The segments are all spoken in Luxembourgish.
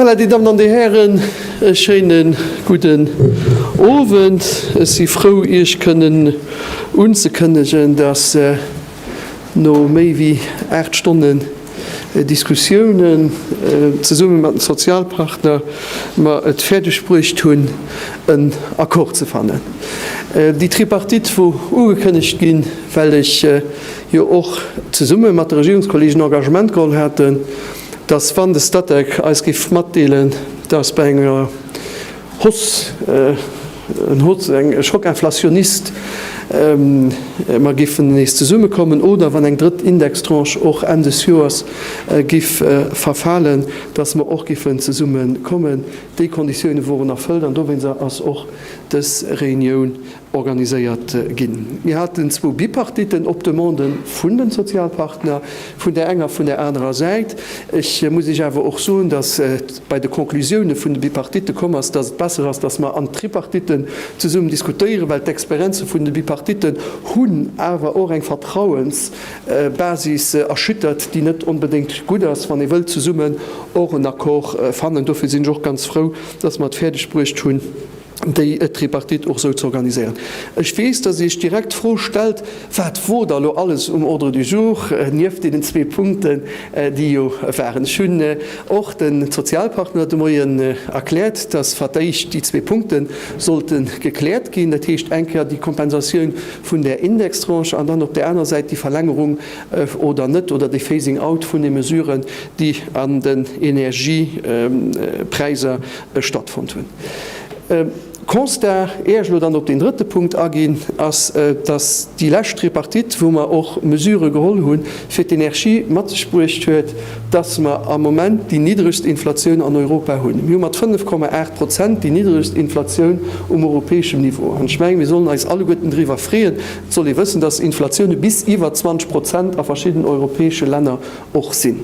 Voilà, die Damen an de Hären, e schéinen gudden Owend. Ech si frou, Iech kënnen unzekënnegen, dass no méi wéi 8 Stonnen, Diskussiounen zesumme mat den Sozialpartner mer et fäerdeg bruecht hunn en Accord ze fannen. Déi Tripartite wor ugekënnegt ginn, well ech jo och zesumme mat de Regierungskollegen Engagement geholl haten, datt wann de Statec eis géif matdeelen, datt bei enger Hoss, en Hoss, eng Schockinflationnist, mer géifen nees zesummekommen, oder wann eng drëtt Indextranche och Enn des Joers giff verfalen, dass mer och giffen zesummekommen. Déi Konditiounen woren erfëllt an dowéinst ass och dës Reunioun organiséiert ginn. Mir haten zwou Bipartitten op Demande vun de Sozialpartner vun där enger a vun där anerer Säit. Ech muss Iech awer och soen, datt bei de Conclusioune vun de Bipartitte komm ass, datt et besser ass, datt mer an Tripartitten zesummen diskutéieren, well d'Experienze vun de Bipartitten hunn awer och eng Vertrauensbasis erschüttert, déi net onbedéngt gutt ass, wann ee wëllt zesummen och en Accord fannen. Dofir sinn ech och ganz frou, datt mer et fäerdegbruecht hunn, déi Tripartite och esou ze organiséieren. Ech weess, datt Dir Iech direkt d'Fro stellt, Wat wor da lo alles um Ordre du jour nieft deenen zwee Punkten, déi jo waren? Ech hunn och de Sozialpartner de Moien erkläert, datt fir d'éischt déi zwee Punkte sollte gekläert ginn, dat heescht eng Kéier déi Kompensatioun vun där Indextranche an dann op där anerer Säit déi Verlängerung oder net oder de Phasing out vun de Mesuren, déi an den Energiepräiser Ech stattfonnt hunn. Constat, éier ech elo dann op deen drëtte Punkt aginn, ass, dass déi lescht Tripartite, wou mer och Mesurë geholl hu fir d'Energie, mat sech bruecht huet, dass mer am Moment déi niddregst Inflatioun an Europa hunn. Mir hu mat 5,8 Prozent déi niddregst Inflatioun um europäeschem Niveau. An ech mengen, mir sollen eis alleguerten driwwer freeën. Et soll ee wëssen, dass Inflatioune bis iwwer 20 Prozent a verschidden europäesche Länner och sinn.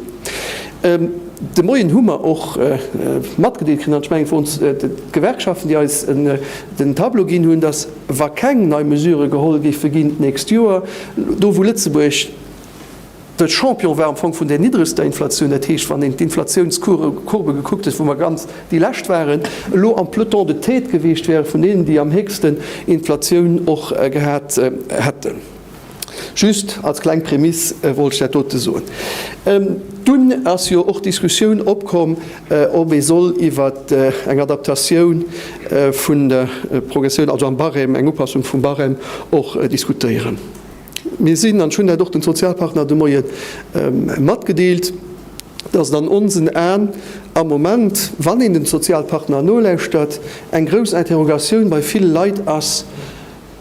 De Moien hu mer och matgedeelt kritt, an ech mengen, et woren d'Gewerkschaften, déi eis den Tableau ginn hunn, datt wa keng nei Mesurë geholl géife ginn d'nächst Joer, do wou Lëtzebuerg de Champion war am Fong vun där niddregster Inflatioun, dat heescht wann een d'Inflatiounscourbe gekuckt huet, wou mer ganz déi lescht waren, elo am Peloton de tête geweecht wäre vun deenen, déi am héchsten Inflatioun och gehat hätten. Just als kleng Prémisse wollt ech dat dote soen. Dunn ass jo och d'Diskussioun opkomm, ob ee soll iwwer eng Adaptatioun vun der Progressioun, also am Barème, eng Upassung vum Barème och diskutéieren. Mir sinn, an ech hunn dat och de Sozialpartner de Moie matgedeelt, dass et an onsen Aen am Moment, wann een de Sozialpartner nolauschtert, eng grouss Interrogatioun bei ville Leit ass,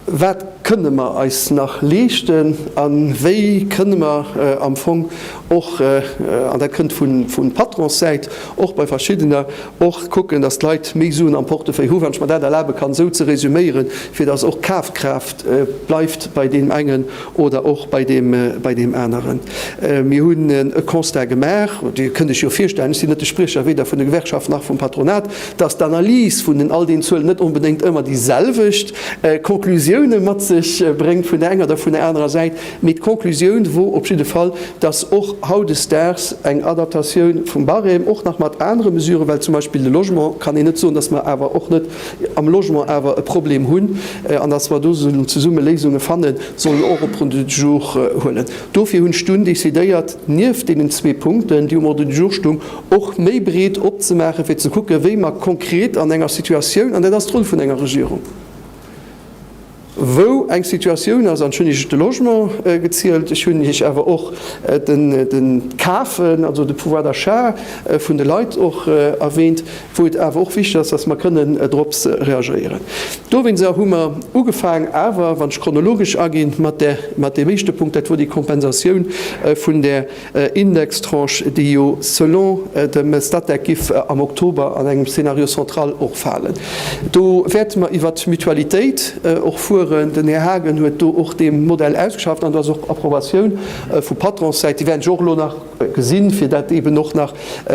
Wat kënne mer eis nach leeschten a wéi kënne mer am Fong och, an dat kënnt vun Patronssäit, och bei verschiddener, och kucken, datt d'Leit méi Suen am Portefeuille hu, wann ech mer dat erlabe kann esou ze resuméieren, fir datt och Kafkraaft bleift bei deem engen oder och bei deem aneren. Mir hunn e Constat gemaach, Dir kënnt Iech jo virstellen, ech sinn net de Spriecher weder vun de Gewerkschaften nach vum Patronat, dass d'Analys vun den all den Zuelen net onbedéngt ëmmer déi selwecht Conclusioune mat sech bréngt vun der enger oder vun der anerer Säit, mee d'Conclusioun wor op jidde Fall, dass och hautdesdaags eng Adaptatioun vum Barème, och nach mat anere Mesuren, well zum Beispill de Logement, kann een net soen, dass mer awer och net am Logement awer e Problem hunn an dass mer do sollen zesumme Léisunge fannen, sollen och op Ordre du jour huelen. Dofir hunn ech dunn decidéiert, nieft deenen zwee Punkten, déi um Ordre du jour stungen, och méi breet opzemaachen, fir ze kucken, wéi mer konkret an enger Situatioun, an dat ass d'Roll vun enger Regierung, wou eng Situatioun ass, an ech hunn Iech de Logement gezielt, ech hunn Iech awer och de Kafen, also de Pouvoir d'achat vun de Leit och erwähnt, wou et awer och wichtig ass, dass mer kënnen drops reagéieren. Dowéinst hu mer ugefaangen, awer wann ech chronologesch aginn, mat deem éischte Punkt, dat wor déi Kompensatioun vun där Indextranche, déi jo selon dem Statec giff am Oktober an engem Scénario central och falen. Do wäerte mer iwwert d'Mutualitéit och fueren. Den Här Haagen huet do och dee Modell ausgeschafft an do ass och Approbatioun vu Patronssäit. Déi wäerten ech och elo nach gesinn, fir dat eeben och nach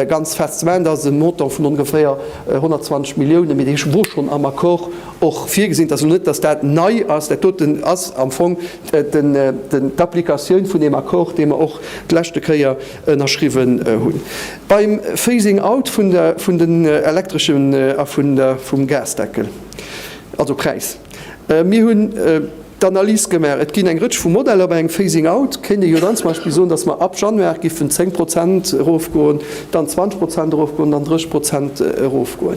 ganz fest ze maachen. Dat ass e Montant vun ongeféier 120 Milliounen, mee dee wor schonn am Accord och virgesinn. Et ass elo net, datt dat nei ass. Dat doten ass am Fong d'Applikatioun vun deem Accord, dee mer och d'leschte Kéier ënnerschriwwen hunn beim Phasing out vun den elektreschen a vum Gasdeckel, also Präis. Mir hunn d'Analys gemaach, et ginn eng Rëtsch vu Modeller. Bei engem Phasing out kéint ee jo dann zum Beispill soen, dass mer ab Januar géifen 10 Prozent erofgoen, dann 20 Prozent erofgoen, dann 30 Prozent erofgoen.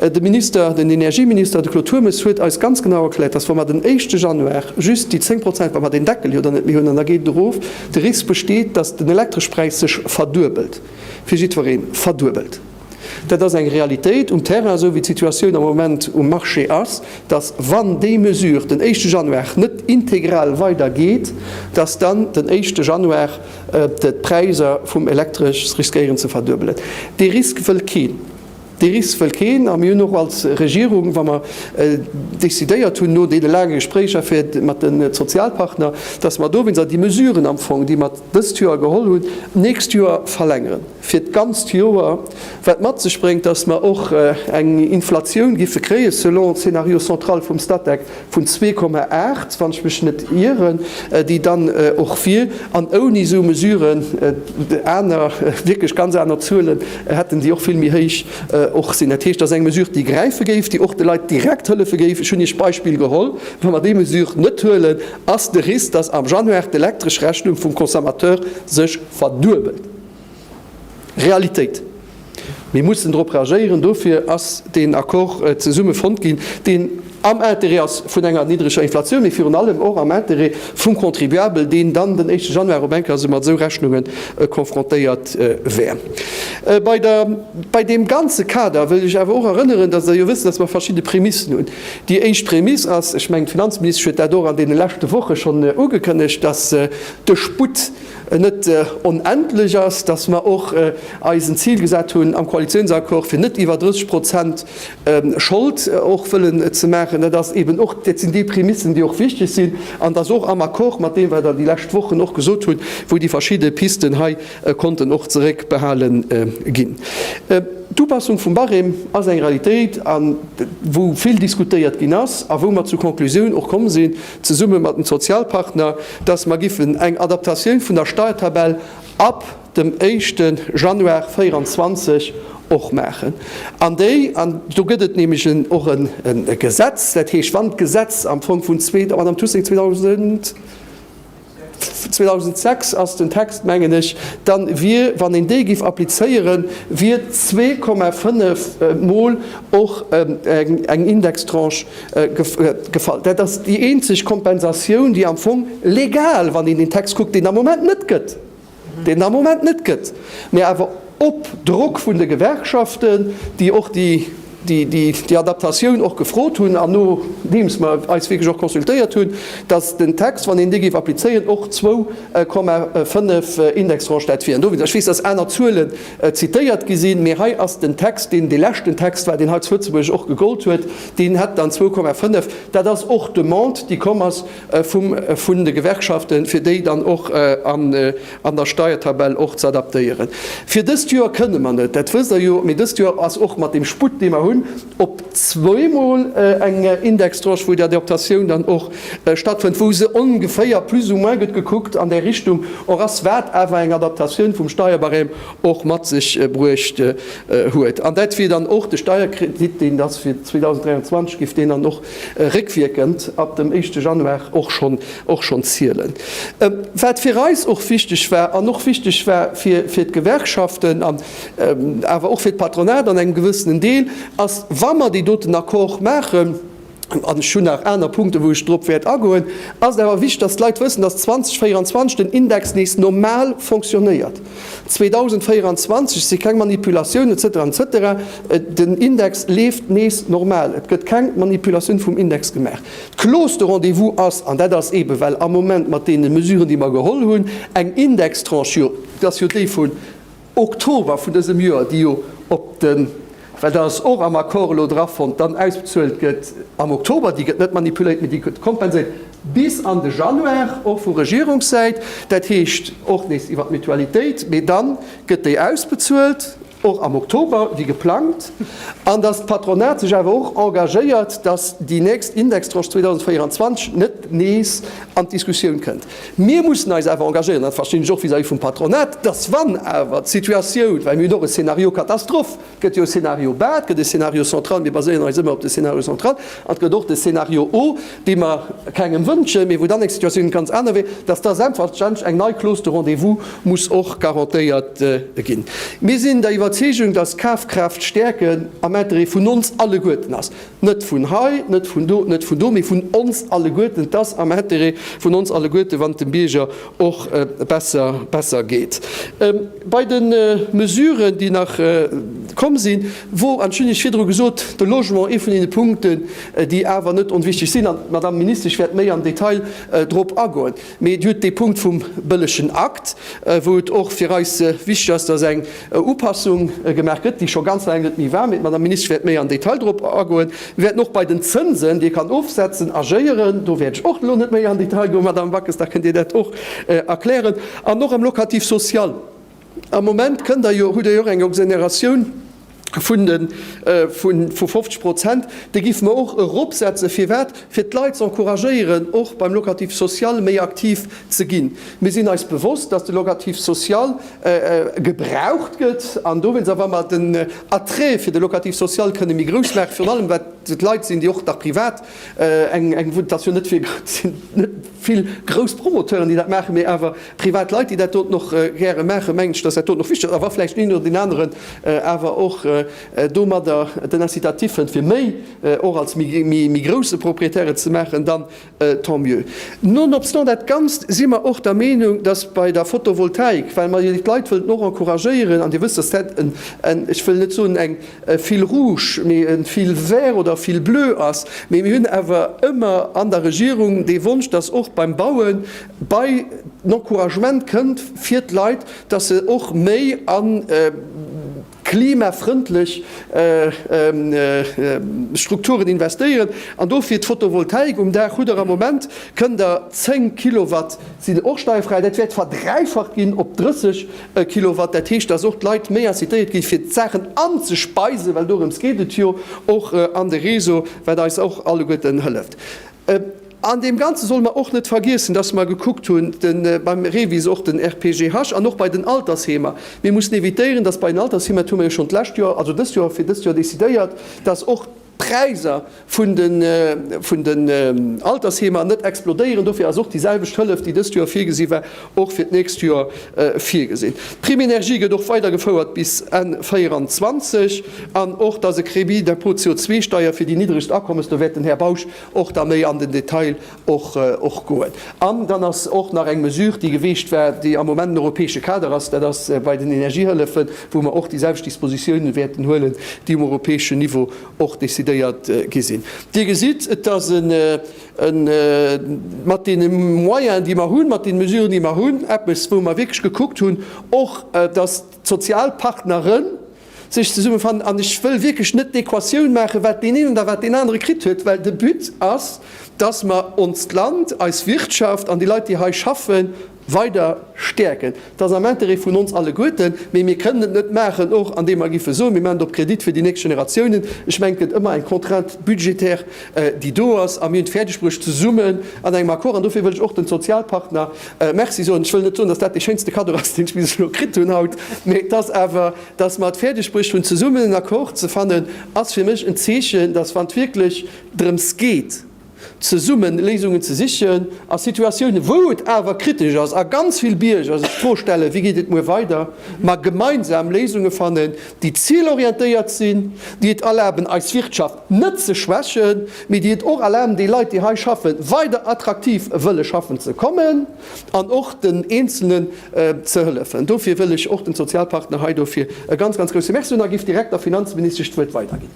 De Minister, den Energieminister, de Claude Turmes, huet eis ganz genau erkläert, dass, wa mer den éischte Januar just déi 10 Prozent, wa mer deen Deckel jo dann net méi hunn, an da geet et erof, de Risk besteet, dass den Elektreschpräis sech verduebelt, fir jiddweree verduebelt. Dat ass eng Realitéit um Terrain, esou wéi d'Situatioun am Moment um Marché ass, dass, wann déi Mesure den éischte Januar net integral weidergeet, dass dann den éischte Januar, D'Präiser vum Elektresch riskéieren ze verduebelen. Dee Risk wëll keen. Dee Risk wëll keen. A mir hunn och als Regierung, wa mer décidéiert hunn, no deene laange Gespréicher fir mat de Sozialpartner, dass mer dowéinst déi Mesuren am Fong, déi mer dëst Joer geholl hunn, d'nächst Joer verlängeren, fir d'ganzt Joer, wat mat sech bréngt, dass mer och eng Inflatioun géife kréien, selon Scénario central vum Statec, vun zwee Komma aacht, wann ech mech net ieren, déi dann och wier, an ouni esou Mesuren, aner, wierklech ganz aner Zuele hätten, déi och vill méi héich och sinn. Dat heescht, dat ass eng Mesure, déi gräife géif, déi och de Leit direkt hëllefe géif. Ech hunn Iech d'Beispill geholl, Wa mer déi Mesure net huelen, ass de Risk, dass am Januar d'Elektreschrechnung vum Consommateur sech verduebelt. Realitéit. Mir mussen dorop reagéieren. Dofir ass deen Accord zesumme fonnt ginn, deen am Interêt ass vun enger niddreger Inflatioun, mee virun allem och am Interêt vum Contribuabel, deen dann den éischte Januar op eng Kéier esou mat esou Rechnunge konfrontéiert wär. Bei der, bei deem ganze Kader wëll ech awer och erënneren, dass Der jo wësst, dass mer verschidde Prämissen hunn. Déi éischt Prämiss ass, ech mengen, d'Finanzministesch huet dat och an deene leschte Woche schonn ugekënnegt, dass de Sputt, net onendlech ass, dass mer och eis en Zil gesat hunn am Koalitionsaccord, fir net iwwer 30 Prozent Schold och wëllen ze maachen. Dat ass eeben och, dat sinn déi Prämissen, déi och wichtig sinn, an dass och am Accord mat deem, wat Der déi lescht Wochen och gesot hutt, wou déi verschidde Pisten hei konnten och zeréckbehale ginn. D'Upassung vum Barème ass eng Realitéit, wou vill diskutéiert ginn ass a wou mer zur Konklusioun och komm sinn, zesumme mat den Sozialpartner, dass mer giffen eng Adaptatioun vun der Steuertabell ab dem éischte Januar 2024 och maachen. An déi, an do gëtt et nämlech en och e Gesetz, dat heescht, wann d'Gesetz am Fong vun, Madame Tucing, 2000, 2006 ass den Text, mengen ech, dann wier, wann een dee giff applizéieren, wier zwee Komma fënnef mol och eng Indextranche gefall. Dat ass déi eenzeg Kompensatioun, déi am Fong legal, wann een den Text kuckt, deen am Moment net gëtt. deen et am Moment net gëtt, mä awer op Drock vun de Gewerkschaften, déi och déi Adaptatioun och gefrot hunn an nodeems mer eis wierklech och consultéiert hunn, datt den Text, wann een dee géif applizéieren, och zwou Komma fënnef Indextranche dat wieren. Dowéinst, ech weess, datt aner Zuelen zitéiert gi sinn, mä hei ass den Text, deen dee leschten Text war, deen hei zu Lëtzebuerg och gegollt huet, deen hätt dann zwou Komma fënnef. Dat ass och d'Demande, déi komm ass vum vun de Gewerkschaften, fir déi dann och an an der Steiertabell och z'adaptéieren. Fir dëst Joer kënne mer net, dat wësst Der jo, mee dëst Joer ass och mat deem Sputt, dee mer hunn, op zweemol eng Indextranche, wou déi Adaptatioun dann och stattfënnt, wou se ongeféier plus ou moins, gëtt gekuckt, an där Richtung och ass, wat awer eng Adaptatioun vum Steierbarème och mat sech bruecht huet. An dat wier dann och de Steierkredit, deen da fir 2023, giff deen dann och réckwierkend ab dem éischte Januar och schonn och schonn zielen. Wat fir eis och wichteg war an och wichteg war fir fir d'Gewerkschaften an awer och fir d'Patronat an engem gewëssenen Deel, ass wa mer déi doten Accord maachen, an ech hunn nach aner Punkten, wou ech drop wäert agoen, ass et awer wichteg, datt d'Leit wëssen, datt 2024 den Index nees normal fonctionnéiert. 2024 si keng Manipulatiounen, etc. Etc. Den Index leeft nees normal. Et gëtt keng Manipulatioun vum Index gemaach. D'Clause de rendez-vous ass, an dat ass eebe well am Moment mat deene Mesuren, déi mer geholl hunn, eng Indextranche, jo, dat ass jo déi vun Oktober vun dësem Joer, déi jo op de. Well dat ass och am Accord elo drafonnt, dann ausbezuelt gëtt am Oktober, déi gëtt net manipuléiert, mee déi gëtt kompenséiert bis an de Januar, och vu Regierungssäit, dat heescht och nees iwwer d'Mutualitéit, mee da gëtt déi ausbezuelt och am Oktober wéi geplangt, an datt d'Patronat sech awer och engagéiert, datt déi nächst Indextranche 2024 net nees an d'Diskussioun kënnt. Mir mussen eis awer engagéieren, dat verstinn ech och vis-à-vis vum Patronat, dass wann awer d'Situatioun, well mir hunn och e Scénario catastrophe, et gëtt jo e Scénario bas, et gëtt e Scénario central, mir baséieren eis ëmmer op de Scénario central, an et gëtt och de Scénario haut, dee mer kengem wënschen, mee wou dann eng Situatioun ganz aner wier, dass da selbstverständlech eng nei Clause de rendez-vous muss och garantéiert ginn. Mir sinn der Iwwerzeegung, dass Kafkraaft stäerken am Interêt vun ons alleguerten ass. Net vun hei, net vun do, net vun do, mee vun ons alleguerten. Et ass am Intérêt vun ons alleguerte wann et dem Bierger och besser geet. Bei de Mesuren, déi nach komm sinn, wor, an ech hunn Iech virdru gesot, de Logement ee vun deene Punkten, déi awer net onwichtig sinn, an d'Madame Ministesch wäert méi am Detail drop agoen. Mee et huet dee Punkt vum bëllegen Akt, wou et och fir eis wichteg ass, dass eng Upassung gemaach gëtt, déi scho ganz laang net méi war. Mee d'Madame Minister wäert méi am Detail dorop agoen. Mir wäerten och bei den Zënsen, déi ee kann ofsetzen, agéieren. Do wäert ech och elo net méi an Detail goen. Madame Backes, da kënnt Dir dat och erklären. An och am Locatif social. Am Moment kënnt Der jo, hutt Der jo och eng Exonératioun vu 50 Prozent. Déi géife mer och eropsetzen. Firwat? Fir d'Leit ze encouragéieren, och beim Locatif social méi aktiv ze ginn. Mir sinn eis bewosst, dass de Locatif social gebraucht gëtt. An dowéinst, a wa mer den Attrait fir de Locatif social kënne méi grouss maachen, virun allem wat et Leit sinn, déi och nach privat Eng, dass jo net fir, et sinn net vill grouss Promoteuren, déi dat maachen, mee awer privat Leit, déi dat doten och gäre maachen, mengen ech, dass dat doten och wichteg ass. A wa vläicht deen oder deen aneren awer och domadder den Incitatif fënnt, fir méi, och als méi grousse Propriétaire et ze maachen, dann tant mieux. Nonobstant dat Ganzt si mer och der Meenung, dass bei der Photovoltaik, well mer jo déi Leit wëllten och encouragéieren, an Dir wësst, dass dat en, ech wëll net soen eng, e fil rouge, mee e fil vert oder e fil bleu ass. Mee mir hunn awer ëmmer an der Regierung dee Wonsch, dass och beim Baue bei den Encouragement kënnt fir d'Leit, dass se och méi a klimafrëndlech Strukturen investéieren. An dofir d'Fotovoltaik um Daach, hutt Der am Moment, kënnt Der 10 Kilowatt sinn och steierfräi, dat wäert verdräifacht ginn op 30. E Kilowatt, dat heescht, dass och d'Leit méi incitéiert gi fir d'Saachen anzespeisen, well dorëms geet et jo och an de Réseau, wat eis och alleguerten hëlleft. An deem Ganze solle mer och net vergiessen, dass mer gekuckt hunn beim REVIS, och den RPGH an och bei den Altersheemer, mir mussen évitéieren, dass bei den Altersheemer, dat hu mer jo schonn d'lescht Joer, also dëst Joer, fir dëst Joer decidéiert, dass och Präiser vun den, vun den Altersheemer net explodéieren. Dofir ass och déi selwecht Hëllef, déi dëst Joer virgesi war, och fir d'nächst Joer virgesinn. D'Prime énergie gëtt och weidergefouert bis Enn 24. An och, dass e Crédit d'impôt CO2-Steier fir déi niddregst Akommes, do wäert den Här Bausch och da méi an den Detail och goen. An dann ass och nach eng Mesure, déi geweegt war, déi am Moment en europäesche Kader ass, dat ass bei den Energiehëllefen, wou mer och déi selwecht Dispositiounen wäerten huelen, déi um europäeschen Niveau och décidéiert gi sinn. Dir gesitt, et ass e, mat deene Moyenen, déi mer hunn, mat deene Mesuren, déi mer hunn, eppes, wou mer wierklech gekuckt hunn och, dass d'Sozialpartneren, sech zesummefannen an ech wëll wierklech net d'Equatioun maachen, wat deen een oder wat deen anere kritt huet, well de But ass, dass mer onst Land, eis Wirtschaft an déi Leit, déi hei schaffen, weider stäerken. Et ass am Intérêt vun ons alleguerten, mee mir kënnen et net maachen, och andeem mer géife soen, mir maachen et op Kredit fir déi nächst Generatiounen. Ech mengen, et gëtt ëmmer eng Contrainte budgétaire, déi do ass, a mir hunn et fäerdegbruecht, zesummen an engem Accord, an dofir wëll ech och de Sozialpartner, Merci soen. Ech wëll net soen, dass dat dee schéinste Kaddo ass, deen ech bis elo kritt hunn haut, mee et ass awer, dass mer et fäerdegbruecht hunn zesummen en Accord ze fannen, ass fir mech en Zeechen, dass wann et wierklech drëms geet zesumme Léisungen ze sichen a Situatiounen, wou et awer kritesch ass a ganz vill Bierger sech d'Fro stellen, wéi geet et muer weider, mer gemeinsam Léisunge fannen, déi zilorientéiert sinn, déi et erlaben eis Wirtschaft net ze schwächen, mee déi et och erlaben déi Leit déi hei schaffen weider attraktiv wëlle schaffen ze kommen an och den Eenzelnen ze hëllefen. Dofir wëll ech och den Sozialpartner hei dofir e ganz, ganz grousse Merci soen a giff direkt der Finanzministesch d'Wuert weiderginn.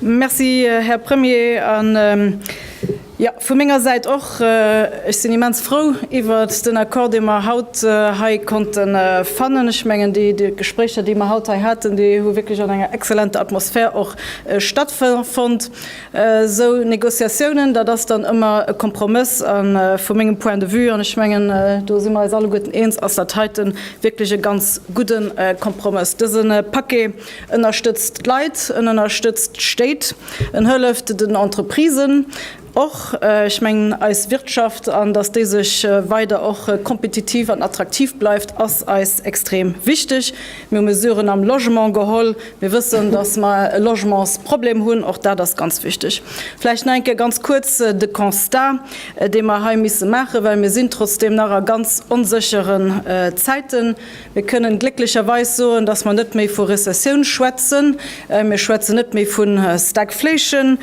Merci, Här Premier. An, jo, vu menger Säit och, ech sinn immens frou iwwer den Accord, dee mer haut hei konnte fannen. Ech mengen, déi Gespréicher, déi mer haut hei haten, déi hu wierklech an enger exzellenter Atmosphär och stattfonnt. Esou Négociatiounen, dat ass dann ëmmer e Kompromëss. A vu mengem Point de vue, an ech mengen, do si mer eis alleguerten eens, ass dat heiten wierklech e ganz gudde Kompromëss. Dëse Paquet ënnerstëtzt d'Leit, en ënnerstëtzt d'Stéit, en hëlleft den Entreprisen och, ech mengen eis Wirtschaft, an dass déi sech weider och kompetitiv an attraktiv bleift, ass eis extrem wichteg. Mir hu Mesuren am Logement geholl. Mir wëssen, dass mer e Logementsproblem hunn, och dat ass ganz wichteg. Vläicht nach eng Kéier ganz kuerz de Constat, dee mer hei misse maachen, well mir sinn trotzdeem nach a ganz onsécheren Zäiten. Mir kënnen glécklecherweis soen, dass mer net méi vu Rezessioun schwätzen. Mir schwätzen net méi vu Stagflation.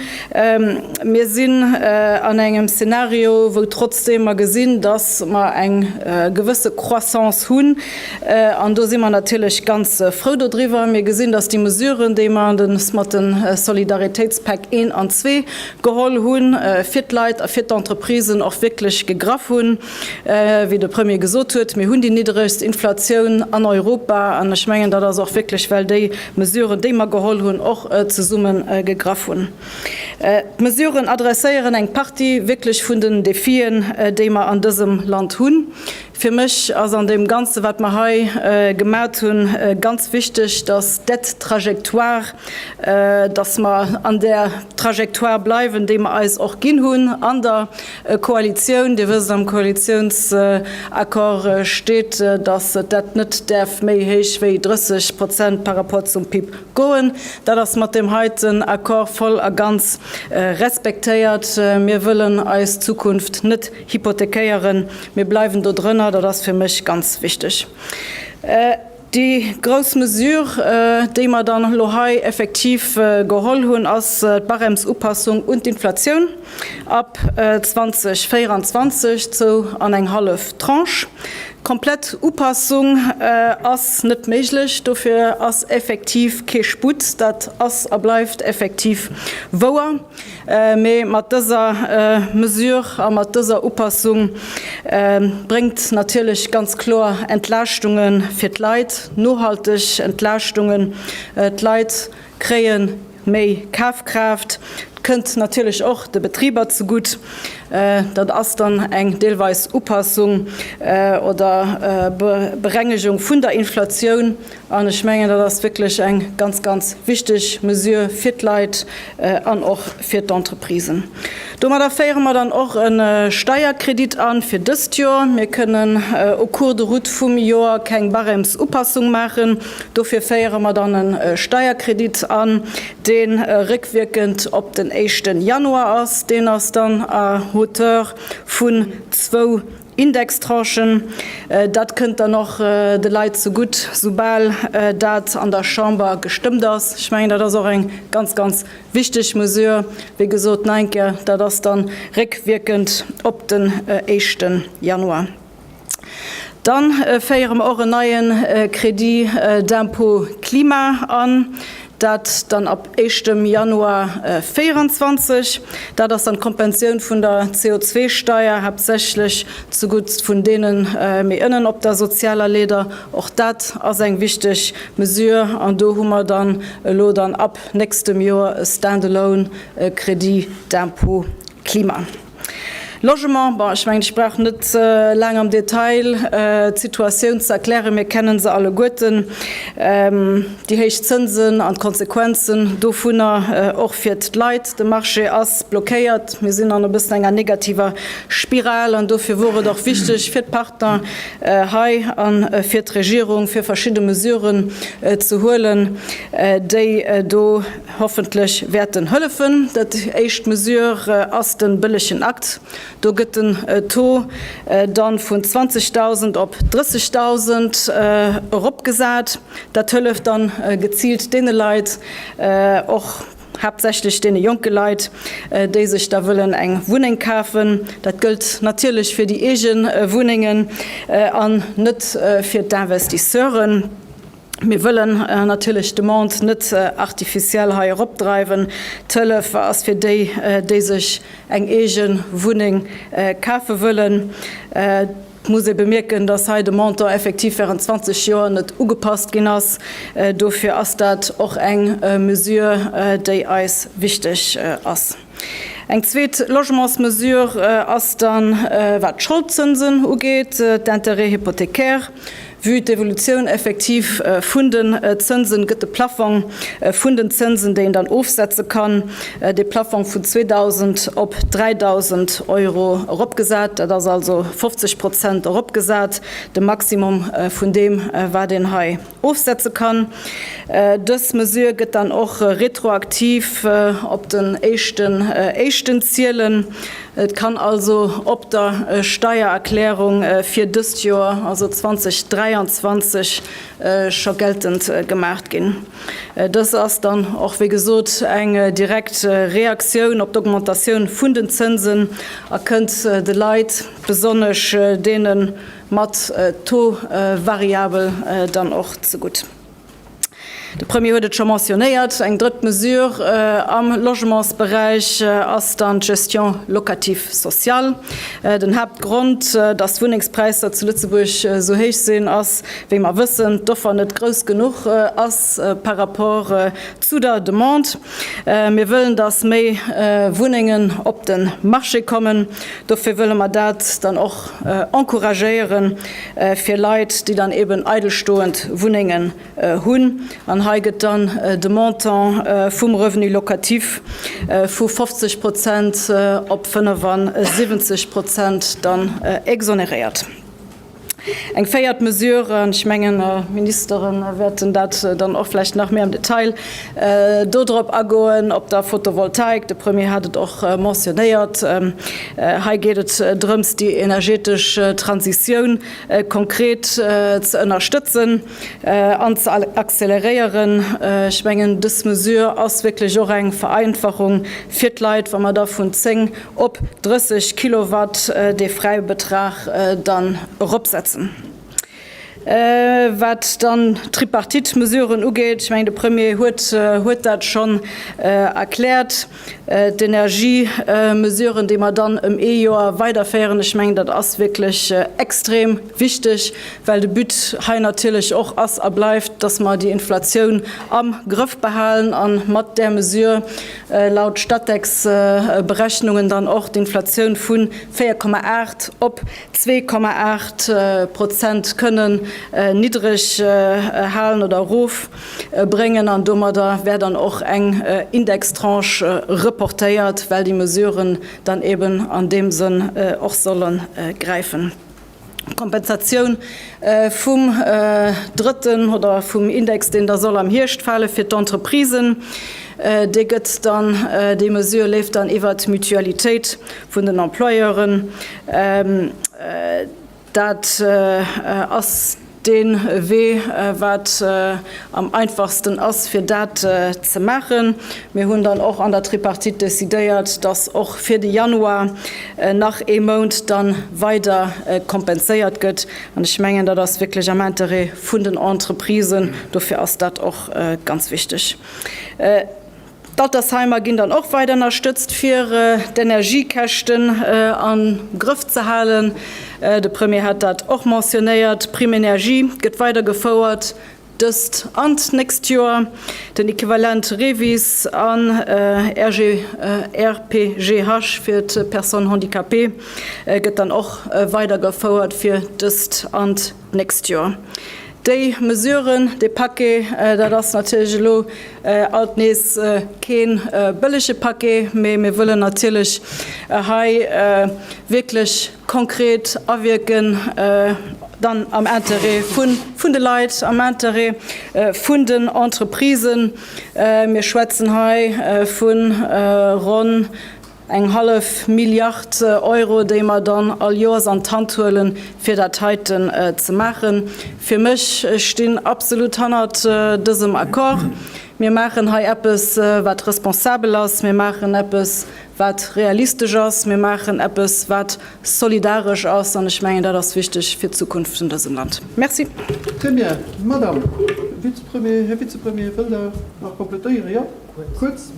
Mir sinn an engem Szenario, wou trotzdeem mer gesinn, dass mer eng gewësse Croissance hunn, An do si mer natierlech ganz frou dodriwwer. Mir gesinn, dass déi Mesuren, déi mer uns mat de Solidaritéitspäck I an ii geholl hunn, fir d'Leit a fir d'Entreprisen och wierklech gegraff hunn. Wéi de Premier gesot huet, Mir hunn déi niddregst Inflatioun an Europa. An ech mengen, dat ass och wierklech, well déi Mesuren, déi mer geholl hunn, och zesumme gegraff hunn. D'Mesuren adresséieren eng Partie wierklech vun den Defien, déi mer an dësem Land hunn. Fir mech ass an deem Ganze wat mer hei gemat hunn ganz wichteg, dass d'Aide trajectoire, dass mer an där Trajectoire bleiwen, déi mer eis och ginn hunn an der Koalitioun. Dir wësst, am Koalitionsaccord steet, dass dat net däerf méi héich wéi 30 Prozent par rapport zum PIB goen. Dat ass mat deem heiten Accord voll a ganz respektéiert. Mir wëllen eis Zukunft net Hypothekéieren. Mir bleiwen do drënner, dat ass fir mech ganz wichteg. Déi grouss Mesure, déi mer dann elo hei effektiv geholl hunn, ass d'Barèmesupassung un d'Inflatioun ab 2024, zou an eng hallef Tranche. Komplett Upassung ass net méiglech, dofir ass effektiv kee Sputt, dat ass a bleift effektiv wouer. Mee mat dëser Mesure a mat dëser Upassung bréngt natierlech ganz kloer Entlaaschtunge fir d'Leit, nohalteg Entlaaschtungen. D'Leit kréie méi Kafkraaft. Et kënnt natierlech och de Betriber zegutt. Dat ass dann eng deelweis Upassung oder Berengegung vun der Inflatioun. An ech mengen, dat ass wierklech eng ganz, ganz wichteg Mesure fir d'Leit an och fir d'Entreprisen. Domadder féiere mer dann och e Steierkredit an fir dëst Joer. Mir kënnen au cours de route vum Joer keng Barèmesupassung maachen. Dofir féiere mer dann e Steierkredit an, dee réckwierkend op den éischte Januar ass. Deen ass dann à hauteur vun zwou Indextranchen, dat kënnt dann och de Leit zegutt, soubal dat an der Chamber gestëmmt ass. Ech mengen, dat ass och eng ganz, ganz wichteg Mesure. Wéi gesot, nach eng Kéier, dat ass da réckwierkend op den éischte Januar. Dann féiere mer och en neie Crédit d'impôt climat an. Dat dann ab éischtem Januar 2024. Dat ass dann d'Kompensioun vun der CO2-Steier, haaptsächlech zugutt vun deene méi ënnen op der sozialer Leeder. Och dat ass eng wichteg Mesure. An do hu mer dann elo dann ab nächstem Joer e stand-alone Crédit d'impôt climat. Logement, bon, ech mengen, ech brauch net laang am Detail d'Situatioun ze erklären. Mir kennen se alleguerten, déi héich Zënsen an d'Konsequenzen dovunner, och fir d'Leit. De Marché ass blockéiert. Mir sinn an e bëssen enger negativer Spiral an dofir wor et och wichteg fir d'Partner hei a fir d'Regierung, fir verschidde Mesuren ze huelen, déi do, Hoffentlech wäert en hëllefen. Dat éischt Mesure ass den bëllegen Akt. Do gëtt den Taux dann vun 20.000 op 30.000 eropgesat. Dat hëlleft dann geziilt deene Leit, och haaptsächlech deene jonke Leit, déi sech da wëllen eng Wunneng kafen. Dat gëllt natierlech fir déi eege Wunnengen an net fir d'Investisseuren. Mir wëllen natierlech d'Demande net artificiel hei eropdreiwen. D'Hëllef ass fir déi, déi sech eng eege Wunneng kafe wëllen. Et muss ee bemierken, dass hei de Montant effektiv während 20 Joer net ugepasst ginn ass. Dofir ass dat och eng Mesure, déi eis wichteg ass. Eng zweet Logementsmesure ass dann, wat d'Scholdzënsen ugeet, d'Intérêts hypothécaires. Vue d'Evolutioun effektiv vun den Zënsen gëtt de Plaffong vun den Zënsen, déi een dann ofsetze kann, dee Plaffong vun 2.000 op 3.000 Euro eropgesat. Dat ass also 50 Prozent eropgesat, de Maximum vun deem, wat een hei ofsetze kann. Dës Mesure gëtt dann och retroaktiv op den éischten Éischten zielen. Et kann also op der Steiererklärung fir dëst Joer, also 2023, scho geltend gemaach ginn. Dës ass dann och, wéi gesot, eng direkt Reaktioun op d'Augmentatioun vun den Zënsen a kënnt de Leit, besonnesch deenen, mat Taux variabel dann och zegutt. De Premier huet et scho mentionnéiert, eng drëtt Mesure am Logementsberäich ass dann d'Gestion locative sociale. Den Haaptgrond, datt d'Wunnengspräisser zu Lëtzebuerg esou héich sinn, ass, wéi mer wëssen, d'Offer net grouss genuch ass par rapport zu der Demande. Mir wëllen, datt méi Wunnengen op de Marché kommen. Dofir wëlle mer dat dann och encouragéieren fir Leit, déi dann eben eidelstoend Wunnengen hunn. An hei gëtt dann de Montant vum Revenu locatif vu 50 Prozent op 75 Prozent dann exonéréiert. Eng véiert Mesure, an ech mengen, d'Ministere wäerten dat dann och vläicht nach méi am Detail do drop agoen, op der Fotovoltaik, de Premier hat et och mentionéiert, hei geet et drëms, déi energetesch Transitioun konkret ze ënnerstëtzen. an ze acceleréieren. Ech mengen, dës Mesure ass wierklech och eng Vereinfachung fir d'Leit, wa mer da vun 10 op 30 Kilowatt dee Fräibetrag dann eropsetzen. Wat dann d'Tripartite-Mesuren ugeet, ech mengen, de Premier huet dat schonn erkläert, D'Energiemesuren, déi mer dann ëm ee Joer weiderféieren, ech mengen, dat ass wierklech extrem wichteg, well de But hei natierlech och ass a bleift, dass mer déi Inflatioun am Grëff behalen a mat där Mesure laut Statec-Berechnungen dann och d'Inflatioun vu 4,8 op 2,8 Prozent kënnen niddreg halen oder erof. bréngen an domadder wär dann och eng Indextranche reportéiert, well déi Mesuren dann eben an deem Sënn och solle gräifen. D'Kompensatioun vum drëtten oder vum Index, deen da soll am Hierscht fale fir d'Entreprisen, dee gëtt dann, déi Mesure leeft dann iwwert d'Mutualitéit vun den Employeuren. Dat ass dee Wee, wat am einfachsten ass, fir dat ze maachen. Mir hunn dann och an der Tripartite decidéiert, dass och fir de Januar nach ee Mount da weider kompenséiert gëtt. An ech mengen, dat ass wierklech am Interêt vun den Entreprisen. Dofir ass dat och ganz wichteg. D'Altersheimer ginn dann och weider ënnerstëtzt, fir d'Energiekäschten am Grëff ze halen. De Premier hat dat och mentionéiert. D'Prime énergie gëtt weider gefouert, dëst an d'nächst Joer. Den Equivalent REVIS an RGPGH fir d'Personnes handicapées gëtt dann och weider gefouert, fir dëst an d'nächst Joer. d'nächst Joer. Déi Mesuren, dee Paquet, dat ass natierlech elo alt nees kee bëllege Paquet, mee mir wëllen natierlech hei wierklech konkret awierken, dann am Interêt vun de Leit, am Interêt vun den Entreprisen. Mir schwätzen hei vu ronn Eng hallef Milliard Euro, déi mer dann all Joers an d'Hand huelen, fir dat heiten ze maachen. Fir mech, ech stinn absolut hannert dësem Accord. Mir maachen hei eppes, wat responsabel ass. Mir maachen eppes, wat realistesch ass. Mir maachen eppes, wat solidaresch ass. An ech mengen, dat ass wichteg fir d'Zukunft vun dësem Land. Merci. Très bien. Madame Vize-Premier, Här Vize-Premier, wëllt Der nach komplettéieren? Jo, kuerz.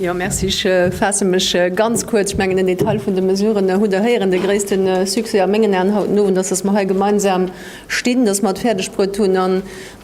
Jo, merci. Ech faasse mech ganz kuerz. Ech mengen, den Detail vun de Mesuren hutt Der héieren. De gréisste Succès a mengen Aen haut den Owend ass, datt mer hei gemeinsam stinn, datt mer et fäerdegbruet hunn a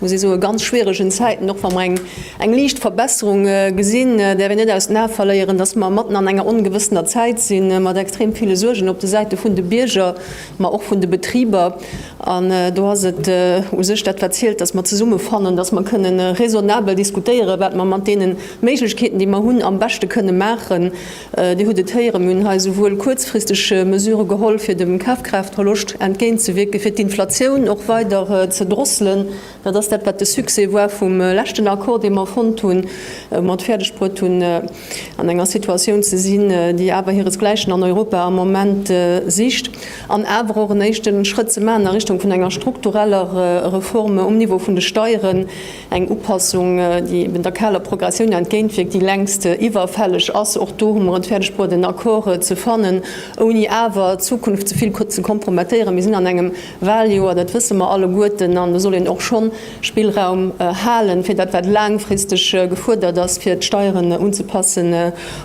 muss ee soen, ganz schwieregen Zäiten, och wa mer eng eng liicht Verbesserung gesinn, däerf een net aus den Ae verléieren, datt mer matten an enger ongewëssener Zäit sinn, mat extrem ville Suergen op de Säite vun de Bierger, mä och vun de Betriber, an do ass et u sech dat wat zielt, datt mer zesumme fannen, datt mer kënne raisonnabel diskutéieren, wat mer mat deene Méiglechkeeten, déi mer hunn, am beschte kënne maachen. Dir hutt et héieren, mir hunn hei esouwuel kuerzfristeg Mesurë geholl, fir dem Kafkraaftverloscht entgéintzewiirken, fir d'Inflatioun och weider ze drosselen, Dat ass dat, wat de Succès war vum leschten Accord, dee mer fonnt hunn, wou mer et fäerdegbruet hunn, an enger Situatioun ze sinn, déi awer hiresgläichen an Europa am Moment sicht, an awer och en éischte Schrëtt ze maachen a Richtung vun enger struktureller Reform um Niveau vun de Steieren, eng Upassung, déi eben der kaler Progressioun entgéintwierkt, déi längst iwwerfälleg ass. Och do hu mer et fäerdegbruet, en Accord ze fannen, ouni awer d'Zukunft ze vill ze kompromettéieren. Mir sinn an engem Waljoer, dat wësse mer alleguerten, an do soll een och schonn Spillraum halen, fir dat, wat laangfristeg gefuerdert ass, fir d'Steieren unzepassen,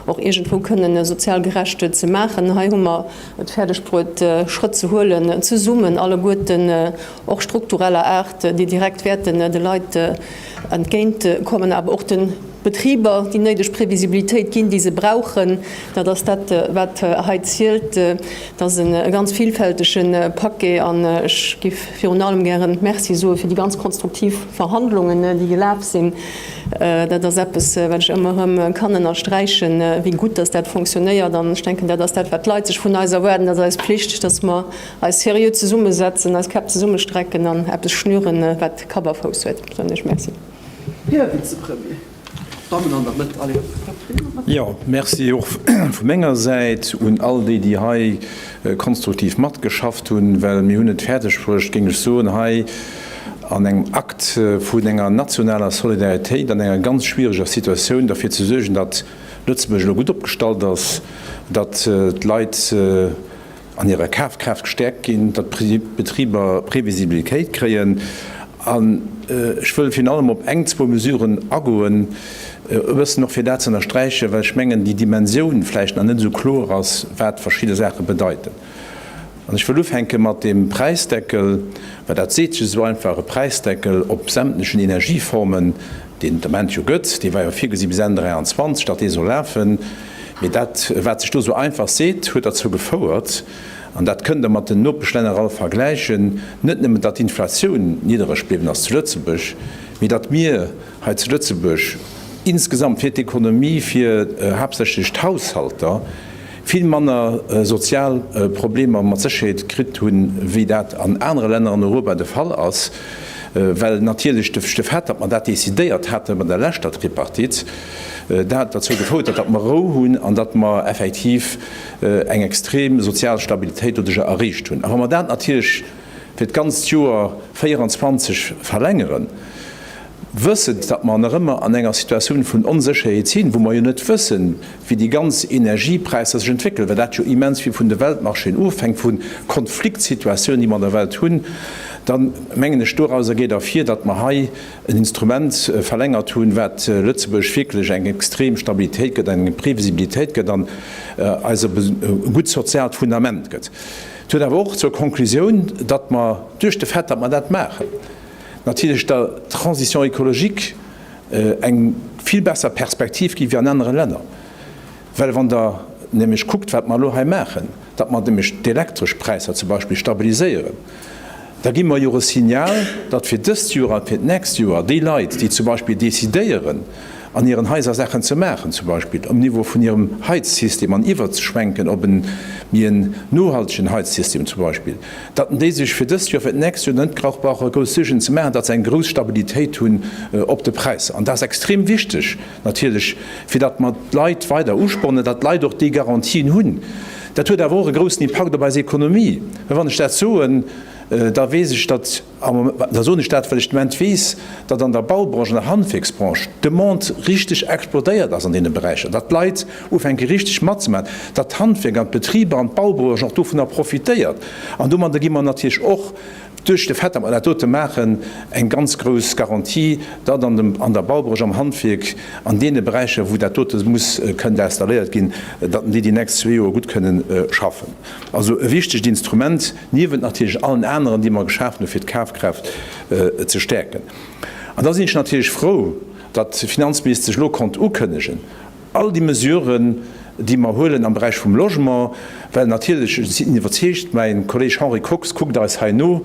och iergendwou kënnen sozial gerecht ze maachen. Hei hu mer et fäerdeg bruet, Schrëtt ze huelen, zesummen alleguerten, och struktureller Aart, déi direkt wäerten de Leit, Entgéint kommen awer och de Betriber déi néideg Previsibilitéit ginn, déi se brauchen. Dat ass dat, wat hei zielt. Et ass e ganz vilfältege Paquet an ech géif virun allem gäre Merci soe fir déi ganz konstruktiv Verhandlungen, déi gelaf sinn. Dat ass eppes, wat ech ëmmer erëm kann ënnersträichen, wéi gutt dass dat funktionéiert. An ech denken, dat ass dat, wat d'Leit sech vun eis erwaarden. Et ass eis Pflicht, dass mer, Eis seriö zesummesetzen, eis Käpp zesummestrecken an eppes schnüren, wat Kapp a Fouss huet, soen ech Merci. Här Vizepremier, d'Dammen an der Mëtt, allez. Jo, Merci och vu menger Säit un all déi, déi hei konstruktiv matgeschafft hunn, well mir hunn et fäerdegbruecht, géing ech soen, hei an engem Akt vun enger nationaler Solidaritéit an enger ganz schwiereger Situatioun derfir ze suergen, datt Lëtzebuerg elo gutt opgestallt ass, datt d'Leit, an hirer Kafkraaft gestäerkt ginn, datt d'Betriber Previsibilitéit kréien an ech wëll virun allem op eng, zwou Mesuren agoen, e bëssen och fir dat ze ënnersträichen, well ech mengen, déi Dimensioun vläicht nach net esou kloer ass, wat verschidde Saache bedeiten. An ech wëll ufänke mat deem Präisdeckel, well dat seet sech esou einfach, e Präisdeckel op sämtlechen Energieformen. deen et am Ament jo gëtt, dee war jo virgesi bis Enn 23, datt dee soll lafen, mee dat wat sech do esou einfach seet, huet derzou gefouert, an dat kënnt Der mat den Nopeschlänner all vergläichen, net nëmmen datt d'Inflatioun niddereg bliwwen ass zu Lëtzebuerg, mee datt mir hei zu Lëtzebuerg insgesamt fir d'Ekonomie, fir haaptsächlech d'Haushalter, vill manner sozial Problemer mat Sécherheet kritt hunn, wéi dat an anere Länner an Europa de Fall ass, well natierlech de Fait, datt mer dat decidéiert hate bei der leschter Tripartite, dat derzou gefouert huet, datt mer Rou hunn an datt mer effektiv eng extrem sozial Stabilitéit doduerjer erreecht hunn. A wa mer dat natierlech fir d'ganzt Joer 24 verlängeren, Wëssend, datt mer nach ëmmer an enger Situatioun vun Onsécherheet sinn, wou mer jo net wëssen, wéi déi ganz Energiepräisser sech entwéckelen, well dat jo immens vill vun de Weltmarchéen ofhänkt, vu Konfliktsituatiounen, déi mer an der Welt hunn, da mengen ech, dorauser geet ervir, datt mer hei en Instrument verlängert hunn, wat Lëtzebuerg wierklech eng extrem Stabilitéit gëtt, eng Previsibilitéit gëtt an eis e gutt soziaalt Fundament gëtt. Dat huet awer och zur Konklusioun, datt mer duerch de Fait, datt mer dat maachen, natierlech der Transition écologique eng vill besser Perspektiv ginn, wéi an anere Länner. Well wann Der nämlech kuckt, wat mer elo hei maachen, datt mer nämlech d'Elektrëschpräisser zum Beispill stabiliséieren, da gi mer jo och e Signal, datt fir dëst Joer a fir d'nächst Joer déi Leit, déi zum Beispill decidéieren, an hiren Haiser Saachen ze maachen, zum Beispill um Niveau vun hirem Heizsystem an iwwerzeschwenken op en méi en nohaltegen Heizsystem zum Beispill, datt déi sech fir dëst Joer, fir d'nächst Joer net grauch brauche grouss Suergen ze maachen, datt se eng grouss Stabilitéit hunn op de Präisser. An dat ass extrem wichteg natierlech, fir datt mer d'Leit weider uspornen, datt d'Leit och déi Garantien hunn. Dat huet awer och e groussen Impakt op eis Ekonomie, well wann ech dat soen, da weess ech, datt, Da soen ech dat, well ech den Moment weess, datt an der Baubranche, an der Handwierksbranche d'Demande richteg explodéiert ass an deene Beräicher, datt d'Leit ufänke richteg matzemaachen, datt d'Handwierk an d'Betriber an d'Baubranche och dovunner profitéiert. An domadder gi mer natierlech och, duerch de Fait, datt mer dat dote maachen, eng ganz grouss Garantie, datt an der Baubranche, am Handwierk, an deene Beräicher, wou dat dote muss kënnen installéiert ginn, datt mer déi déi nächst zwee Joer gutt kënnen schaffen. Also e wichtegt Instrument, niewent natierlech allen aneren, déi mer geschafen hunn, fir d'Kafkraaft ze stäerken. An da sinn ech natierlech frou, datt d'Finanzministesch sech elo konnt ukënnegen, all déi Mesuren, déi mer huelen am Beräich vum Logement, well natierlech, ech sinn iwwerzeegt, mäi Kolleeg Henri Kox kuckt eis hei no,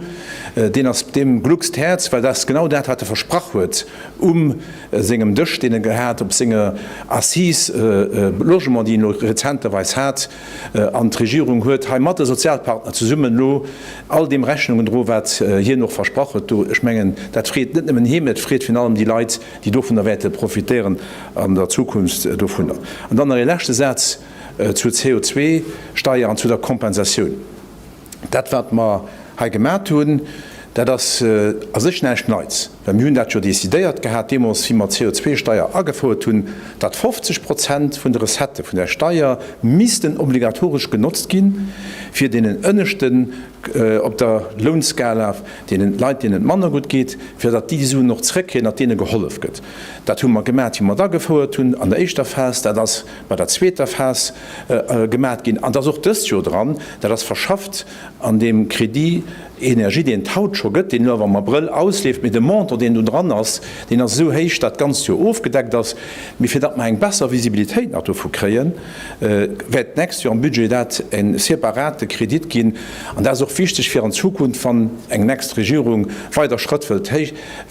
deen ass, deem gluckst d'Häerz, well dat ass genau dat, wat e versprach huet um sengem Dësch, deen e gehat op senger Assise Logement, déi en elo rezenterweis hat. An d'Regierung huet hei mat de Sozialpartner zesummen elo all deem Rechnung gedroen, wat hien och versprach huet do. Ech mengen, dat freet net nëmmen hie, mä et freet virun allem déi Leit, déi dovunner wäerte profitéieren an der Zukunft dovunner. An dann nach ee leschte Saz zur CO2-Steier an zu der Kompensatioun. Dat, wat mer hei gemat hunn, dat ass a sech näischt Neits, well mir hunn dat jo decidéiert gehat deemools, wéi mer d'CO2-Steier agefouert hunn, datt 50 Prozent vun de Recettë vun där Steier missten obligatoresch genotzt gi fir deenen Ënneschten op der Lounskala, deene Leit, deenen et manner gutt geet, fir datt déi déi Suen och zrëckkréien, datt deene gehollef gëtt. Dat hu mer gemat, wéi mer et agefouert hunn an der éischter Phas. Dat ass bei der zweeter Phas gemaat ginn, an et ass och dëst Jor dran, dat ass verschafft an deem Crédit énergie, deen et haut scho gëtt, deen elo awer am Abrëll ausleeft, mee de Montant, deen do dran ass, deen ass esou héich, dat d'ganzt Jor ofgedeckt ass. Mee fir datt mer eng besser Visibilitéit nach dovu kréien, wäert d'nächst Jor am Budget dat e separate Crédit ginn, an dat ass och wichteg fir an Zukunft, wann eng next Regierung weider Schrëtt wëllt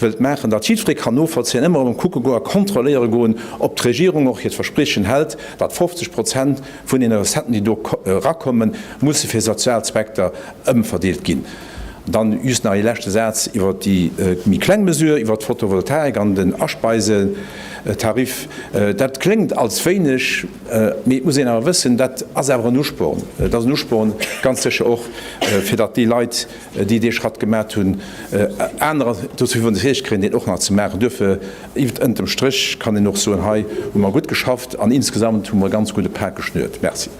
wëllt maachen, datt jiddweree kann novollzéien, ëmmer erëm kucke goen a kontrolléiere goen, ob d'Regierung och hiert Verspriechen hält, datt 50 Prozent vun deene Recetten, déi do erakomme musse fir sozial Zweckter, ëmverdeelt ginn. Dann just nach ee leschte Saz iwwert déi méi kleng Mesure iwwert d'Fotovoltaik an den Aspeisetariff. Dat kléngt als wéineg, mee et muss een awer wëssen, dat ass awer en Usporn. Et ass en Usporn ganz sécher och, fir datt déi Leit, déi dee Schratt gemat hunn, anerer dozou hunn d'Riicht kréien, deen och nach ze maachen. Duerfir, iwwert ënterm Stréch kann een och soen, hei hu mer gutt geschafft an insgesamt hu mer e ganz gudde Pak geschnürt. Merci.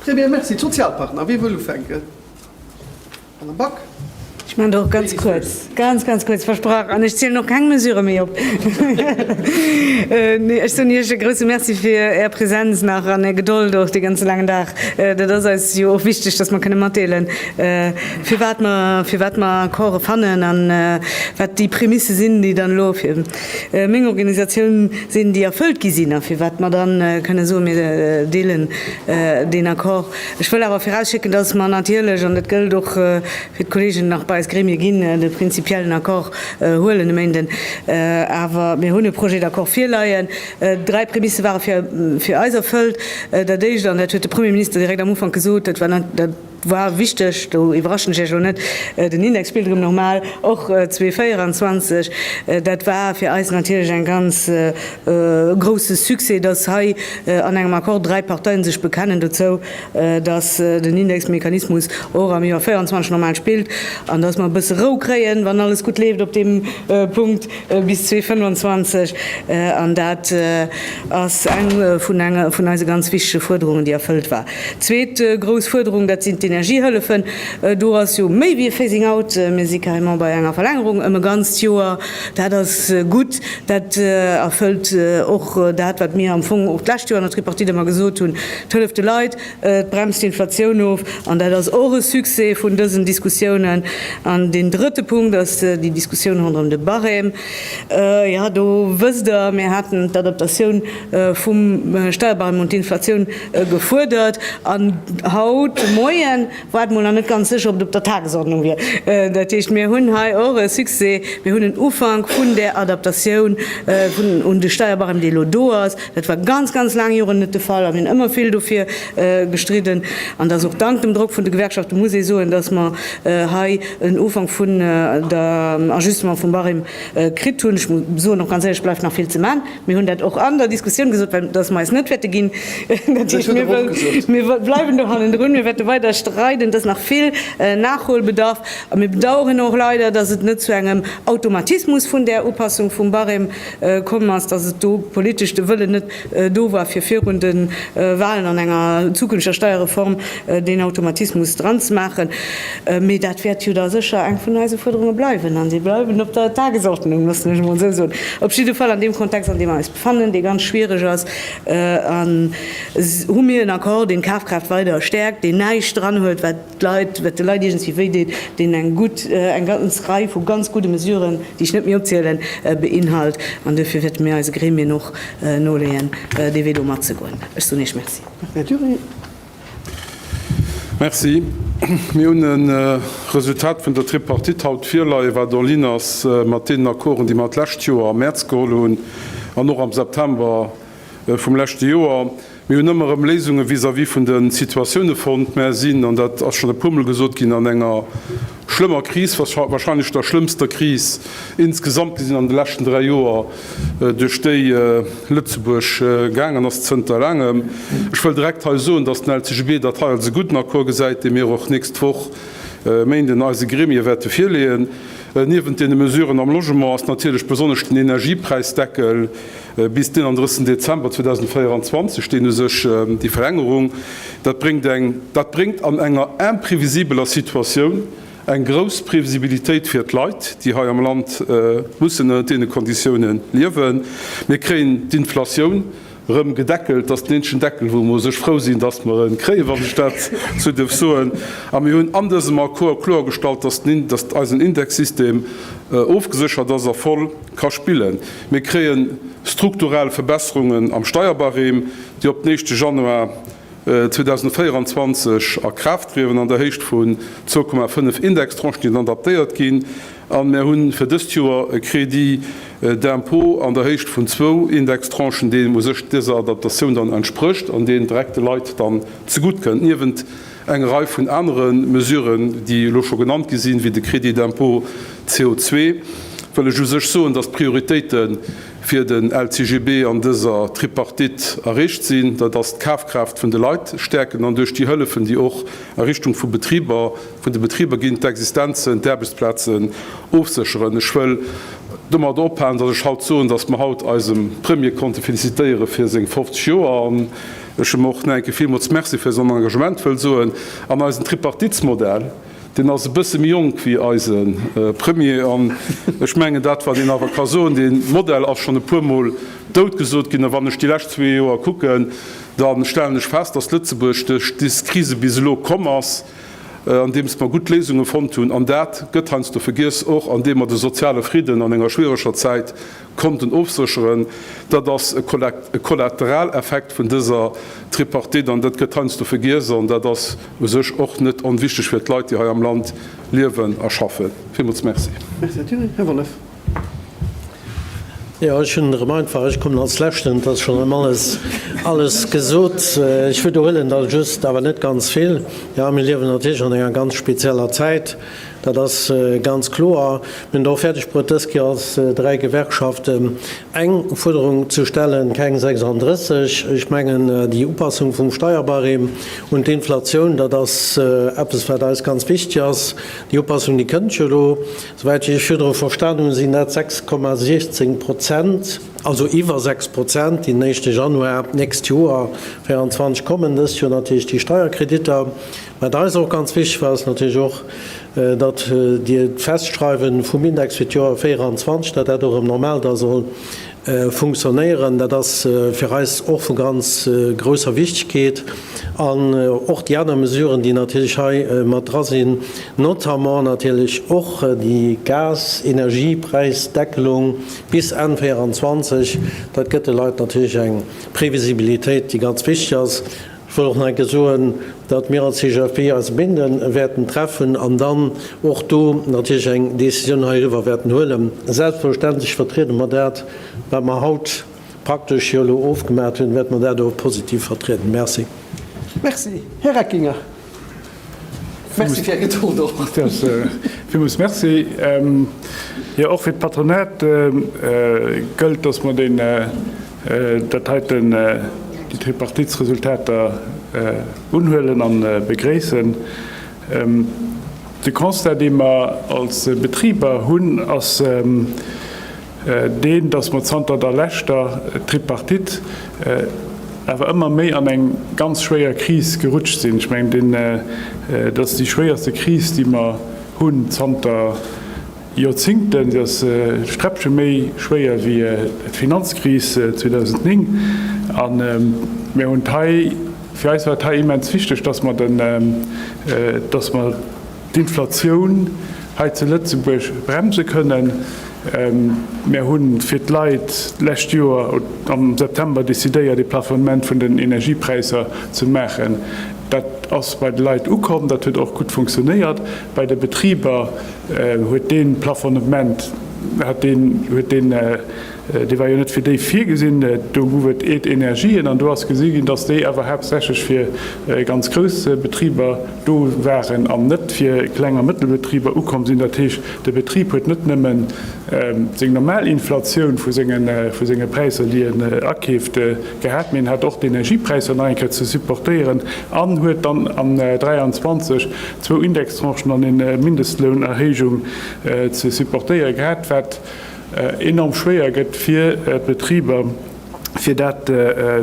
Très bien, merci. D'Sozialpartner, wie wëll ufänken? Madame Back. Ech maachen der och ganz kuerz, ganz, ganz kuerz, versprach. An ech zielen och keng Mesurë méi op. Nee, ech soen Iech e grouse Merci fir Är Präsenz nach an Är Gedold och dee ganze laangen Dag. Dat ass eis jo och wichteg, dass mer kënne matdeelen, firwat mer, firwat mer Accorde fannen a wat déi Prémisse sinn, déi dann elo fir meng Organisatioun sinn, déi erfëllt gi sinn a firwat mer dann kënne soen, mir deelen deen Accord. Ech wëll awer virausschécken, dass mer natierlech, an dat gëllt och fir d'Kollegen nach bei eis Gremie ginn, de prinzipiellen Accord huelen e Méinden. Awer mir hunn e Projet d'accord virleien. Dräi Prémisse ware fir eis erfëllt. Dat Éischt, an dat huet de Premier Minister direkt am Ufank gesot, dat war, War wichteg, do iwwerraschen ech Iech och net, den Index spillt erëm normal, och 2024. Dat war fir eis natierlech en ganz grousse Succès, dass hei an engem Accord dräi Parteien sech bekennen dozou, dass den Indexmechanismus och am Joer 2024 normal spillt an dass mer e bësse Rou kréien, wann alles gutt leeft op deem Punkt, bis 2025. An dat ass eng vun eise ganz wichtege Fuerderungen, déi erfëllt war. Zweet grouss Fuerderung, dat sinn d'Energiehëllefen. Do ass jo méi wéi e Phasing out. Mir si carrément bei enger Verlängerung ëm e ganzt Joer. Dat ass gutt. Dat erfëllt och dat, wat mir am Fong och d'lescht Joer an der Tripartite ëmmer gesot hunn, d'hëlleft de Leit, d'bremst d'Inflatioun of. An dat ass och e Succès vun dësen Diskussiounen. An deen drëtte Punkt ass déi Diskussioun ronderëm de Barème. Jo, do wësst Der, mir haten d'Adaptatioun vum Steierbarème un d'Inflatioun Gefuerdert. An haut de Moien war et mol nach net ganz sécher, ob et op der Tagesordnung wier. Dat heescht, mir hunn hei och e Succès, Mir hunn en Ufank vun där Adaptatioun un de Steierbarème, dee elo do ass. Dat war ganz, ganz laang Joren net de Fall a mir hunn ëmmer vill dofir gestridden. An et ass och dank dem Drock vun de Gewerkschaften, muss ee soen, dass mer hei en Ufank vun der Ajustement vum Barème kritt hunn. Ech muss soen, och ganz éierlech, et bleift nach vill ze man. Mir hunn dat och an der Diskussioun gesot, well dass mer eis net wäerte ginn. Dat heescht, mir wëllen, mir bleiwen do hannendrun, mir wäerte weider streiden. Et ass nach vill Nachholbedarf. A mir bedauern och leider, dass et net zu engem Automatismus vun där Upassung vum Barème komm ass, dass et do politesch de Wëllen net do war, fir virun de Wahlen an enger zukünfteger Steierreform deen Automatismus dranzemaachen. Mee dat wäert jo da sécher eng vun eise Fuerderunge bleiwen, an si bleiwen op der Tagesordnung, loossen ech emol esou soen. Op jidde Fall, an deem Kontext, an deem mer eis befannen, dee ganz schwierig ass, hu mir en Accord, deen d'Kafkraaft weider stäerkt, deen näischt dran huet, wat d'Leit, wat de Leit iergendwéi wéideet, deen eng gutt, eng ganz Rei vu ganz gudde Mesuren, déi ech net méi opzielen, beinhalt. An duerfir wäerte mir eise Gremien och noleeën, dee Wee do matzegoen. Ech soen Iech Merci. Merci. Mir hunn e Resultat vun der Tripartite haut virleien, wat en ligne ass mat deenen Accorden, déi mer d'lescht Joer am Mäerz geholl hunn an och am September vum leschte Joer. Mir hunn ëmmer erëm Léisunge vis-à-vis vun de Situatioune fonnt, mä sinn, an dat ass schonn e puermol gesot ginn, an enger Schlëmmer Kris, wahrscheinlech der schlëmmster Kris insgesamt, déi an de leschten dräi Joer duerch déi Lëtzebuerg gaangen ass zënter laangem. Ech wëll direkt hei soen, dass den LCGB dat hei als e gudden Accord gesäit, dee mir och nächst Woch, Méinden, eise Gremie wäerte virleeën. Niewent deene Mesuren am Logement ass natierlech besonnesch den Energiepräisdeckel, Bis den 31 Dezember 2024 steet u sech déi Verlängerung. Dat bréngt eng, dat bréngt an enger imprevisibeler Situatioun eng grouss Previsibilitéit fir d'Leit, déi hei am Land mussen ënnert deene Konditioune liewen. Mir kréien d'Inflatioun erëm gedeckelt, dat ass den eenzegen Deckel, wou mer u sech frou sinn, dass mer e kréien, wann ech dat esou dierf soen. A mir hunn an dësem Accord kloergestallt, dass eisen Indexsystem ofgeséchert ass a voll ka spillen. Mir kréien strukturell Verbesserungen am Steierbarème, déi op den éischte Januar 2024 a Kraaft trieden, an der Héicht vun zwou Komma fënnef Indextranchen, déi dann adaptéiert ginn. A mir hu fir dëst Joer e Crédit d'impôt an der Héicht vun zwou Indextranchen, deen u sech dëser Adaptatioun dann entsprécht an deen direkt de Leit dann zegutt kënnt, niewent Eng Rei vun anere Mesuren, déi elo scho genannt gi sinn, wéi de Crédit d'impôt CO2, wëll ech u sech soen, dass d'Prioritéite fir den LCGB an dëser Tripartite erreecht sinn. Dat ass d'Kafkraaft vun de Leit stäerken an duerch déi Hëllefen, déi och a Richtung vu Betriber, vun de Betriber ginn, d'Existenzen, d'Aarbechtsplazen ofsécheren. Ech wëll domat ophalen, dass ech haut soen, dass mer haut eisem Premier konnte felicitéiere fir seng 50 Joer. Ech hu mer och no enke villmools Merci fir eisen Engagement wëll soen an eisen Tripartitsmodell. Deen ass e bësse méi jonk wéi eise Premier an ech mengen, dat wat een awer ka soen, dee Modell ass schonn e puermol dout gesot ginn. A wann ech déi lescht zwee Joer kucken, da stellen ech fest, dass Lëtzebuerg duerch dës Krise bis elo komm ass, andeems mer gutt Léisunge fonnt hunn. An dat gëtt heiansdo vergiess, och andeem mer de soziale Fridden an enger schwiereger Zäit konnten ofsécheren, dat ass e Kollateraleffekt vun dëser Tripartite an dat gëtt heiansdo vergiess an dat ass u sech och net onwichtig fir d'Leit, déi hei am Land liewen a schaffen. Villmools merci. Merci, Här Thilly. Här Wollef. Jo, ech hunn erëm einfach, ech kommen als Leschten, et ass schonn erëm alles, alles gesot. Ech widerhuelen da just, awer net ganz vill. Jo, mir liewen natierlech an enger ganz spezieller Zäit. Dat ass ganz kloer. Mir hunn et och fäerdeg bruet, dës Kéier als dräi Gewerkschaften eng Fuerderung ze stellen, keng 36. Ech mengen, déi Upassung vum Steierbarème un d'Inflatioun, dat ass eppes, wat eis ganz wichtig ass. Déi Upassung, déi kënnt jo elo, souwäit ech virdru verstanen hunn, sinn dat 6,16 Prozent, also iwwer 6 Prozent, déi den éischte Januar d'nächst Joer 24 kommen. Dëst Joer natierlech déi Steierkreditter. Wat eis och ganz wichteg war, ass natierlech och, datt Dir d'Festschreiwen vum Index fir d'Joer 24, datt dat och erëm normal da soll funktionéieren. Dat ass fir eis och vu ganz grousser Wichtigkeet. An och déi aner Mesuren, déi natierlech hei mat dra sinn, notamment natierlech och déi Gas-Energiepräisdeckelung bis Enn 24, dat gëtt de Leit natierlech eng Previsibilitéit, déi ganz wichteg ass. Ech wëll och nach eng Kéier soen, datt mir als CGFP eis Bindë wäerten treffen an dann och do natierlech eng Décisioun heiriwwer wäerten huelen. Selbstverständlech vertriede mer dat, wat mer haut praktesch jo elo ofgemaach hunn, wäerte mer dat och positiv vertrieden. Merci. Merci. Här Reckinger. Merci fir Är Gedold och. Villmools Merci. Jo, och fir d'Patronat gëllt, dass mer deen, dat heiten, déi Tripartitsresultater unhuelen a begréissen. De Constat, dee mer als Betriber hunn, ass, deen, datt mer zanter der leschter Tripartite awer ëmmer méi an eng ganz schwéier Kris gerutscht sinn. Ech mengen, dat ass déi schwéierste Kris, déi mer hunn zanter Joerzingten. Se ass e Sträppche méi schwéier wéi d'Finanzkris 2009. A mir hunn hei, fir eis war et hei immens wichteg, datt mer d'Inflatioun hei zu Lëtzebuerg bremse kënnen. Mär hu fir d'Leit d'lescht Joer am September decidéiert, ee Plafonnement vun den Energiepräisser ze maachen. Dat ass bei de Leit ukomm, dat huet och gutt funktionéiert. Bei de Betriber huet dee Plafonnement huet deen huet deen. Dee war jo net fir déi virgesinn. Do gouf et eet Energien an do ass gesi ginn, dass déi awer haaptsächlech fir ganz grouss Betriber do waren an net fir Kleng a Mëttelbetriber ukomm sinn. Dat heescht, de Betrib huet net nëmme seng normal Inflatioun vu senge Präisser, déi en akeeft, gehat, mee en hat och d'Energiepräisser nach eng Kéier ze supportéieren an huet dann am 23 zwou Indextranchen an e Mindestlounerhéijung ze supportéiere gehat, wat, enorm schwéier gëtt fir d'Betriber, fir dat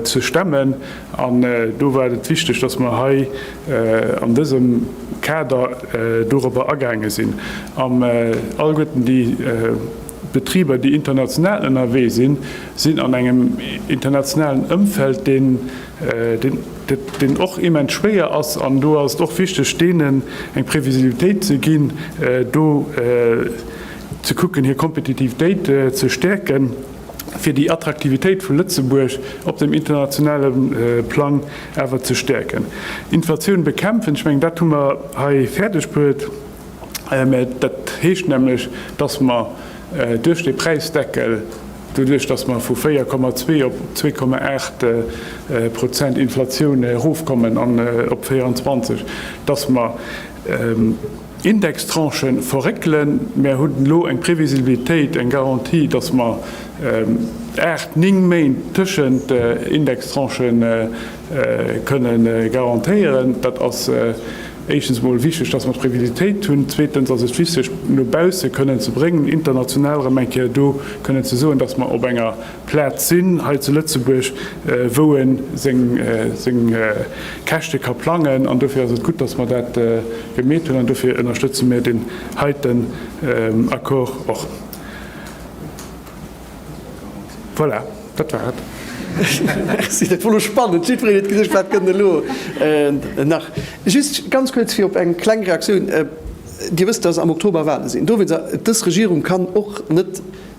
ze stemmen. An do war et wichteg, dass mer hei an dësem Kader dorobber agaange sinn. Am Allguerten, déi Betriber, déi international ënnerwee sinn, sinn an engem internationalen Ëmfeld, deen och immens schwéier ass. An do ass et och wichteg, deenen eng Previsibilitéit ze ginn, ze kucken hir Kompetitivitéit ze stäerken, fir déi Attraktivitéit vu Lëtzebuerg op dem internationale Plang awer ze stäerken. Inflatioun bekämpfen, ech mengen dat hu mer hei fäerdeg bruet, mä dat heescht nämlech, datt mer duerch dee Präisdeckel, doduerch datt mer vu 4,2 op 2,8 Prozent Inflatioun erofkommen an op 24, datt mer, Indextranchen verréckelen. Mär hunn elo eng Previsibilitéit, eng Garantie, dass mer aacht, néng Méint tëschent Indextranche kënne garantéieren. Dat ass éischtens emol wichteg, dass mer d'Previsibilitéit hunn. Zweetens ass et wichteg, no bausse kënnen ze bréngen, international erëm eng Kéier do kënnen ze soen, dass mer op enger Plaz sinn hei zu Lëtzebuerg, wou e seng Käschte ka plangen. An dofir ass et gutt, datt mer dat gemeet hunn. An dofir ënnerstëtze mir deen heiten Accord och. Voilà, dat war et.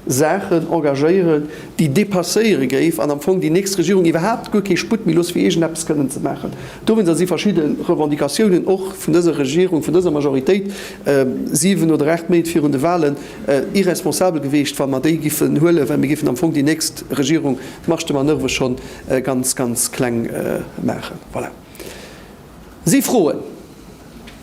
Saachen engagéieren, déi dépasséiere géif an am Fong déi nächst Regierung iwwerhaapt guer kee Sputt méi looss fir iergend eppes kënnen ze maachen. Dowéinst ass si verschidde Revendicatiounen och vun dëser Regierung, vun dëser Majoritéit, 7 oder 8 Méint virun de Wahlen, irresponsabel geweecht, wa mer déi giffen huelen, well mir giffen am Fong déi nächst Regierung d'Marge de manoeuvre schonn ganz, ganz kleng maachen. Voilà. Si froen.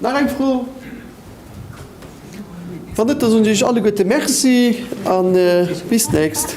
Nach eng Fro? Wann net, da soen ech iech alleguerte Merci a bis d'nächst.